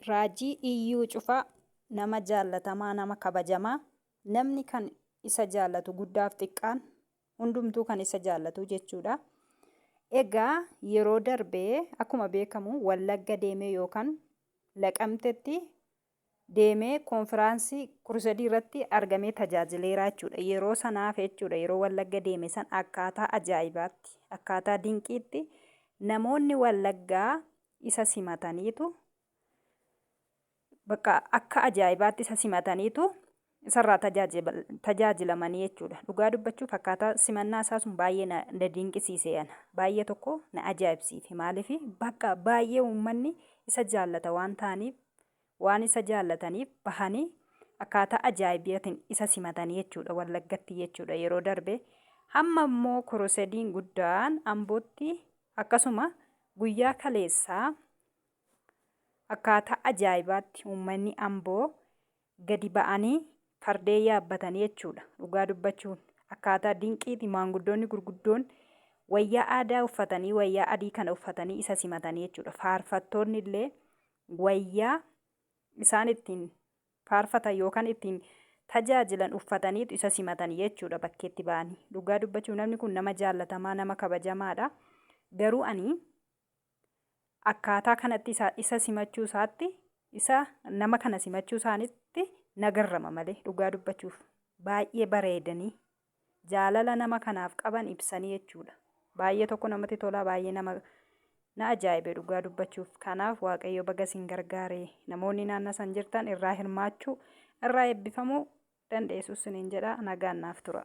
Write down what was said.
Raajii Iyyuu Cufaa Nama jaallatamaa, nama kabajamaa, namni kan isa jaallatu guddaaf xiqqaan hundumtuu kan isa jaallatu jechuudha. Egaa yeroo darbee akkuma beekamu Wallagga deemee yookaan Laqamtetti deemee konfiraansii Kurusadii irratti argamee tajaajileeraa jechuudha. Yeroo sanaaf jechuudha yeroo Wallagga deeme san akkaataa ajaa'ibaatti, akkaataa dinqiitti namoonni Wallaggaa isa simataniitu bakka akka ajaa'ibaatti isa simataniitu isarraa tajaajilamanii jechuudha. Dhugaa dubbachuuf akkaataa simannaa isaa sun baay'ee na, na dinqisiise ana. Baay'ee tokko na ajaa'ibsiife. Maaliif bakka baay'ee uummanni isa jaallata waan ta'aniif waan isa jaallataniif bahanii akkaataa ajaa'ibatiin isa simatanii jechuudha wallaggatti jechuudha yeroo darbe hamma immoo kurusediin guddaan ambootti akkasuma guyyaa kaleessaa akkaataa ajaa'ibaatti uummanni amboo gadi ba'anii fardeen yaabbatanii jechuudha. Dhugaa dubbachuun akkaataa dinqiiti maanguddoonni gurguddoon wayyaa aadaa uffatanii wayyaa adii kana uffatanii isa simatanii jechuudha. Faarfattoonni illee wayyaa isaan ittiin faarfatan yookaan ittiin tajaajilan uffataniitu isa simatanii jechuudha bakkeetti ba'anii. Dhugaa dubbachuuf namni kun nama jaallatamaa nama kabajamaadha. Garuu ani akkaataa kanatti isa, isa simachuu isaatti, isa nama kana simachuu isaanitti na garrama malee dhugaa dubbachuuf baay'ee bareedanii jaalala nama kanaaf qaban ibsanii jechuudha. Baay'ee tokko namatti tolaa baay'ee nama na ajaa'ibe dhugaa dubbachuuf kanaaf waaqayyo baga isin gargaare namoonni naannoo san jirtan irraa hirmaachuu irraa eebbifamuu dandeessu isiniin jedha nagaan naaf tura.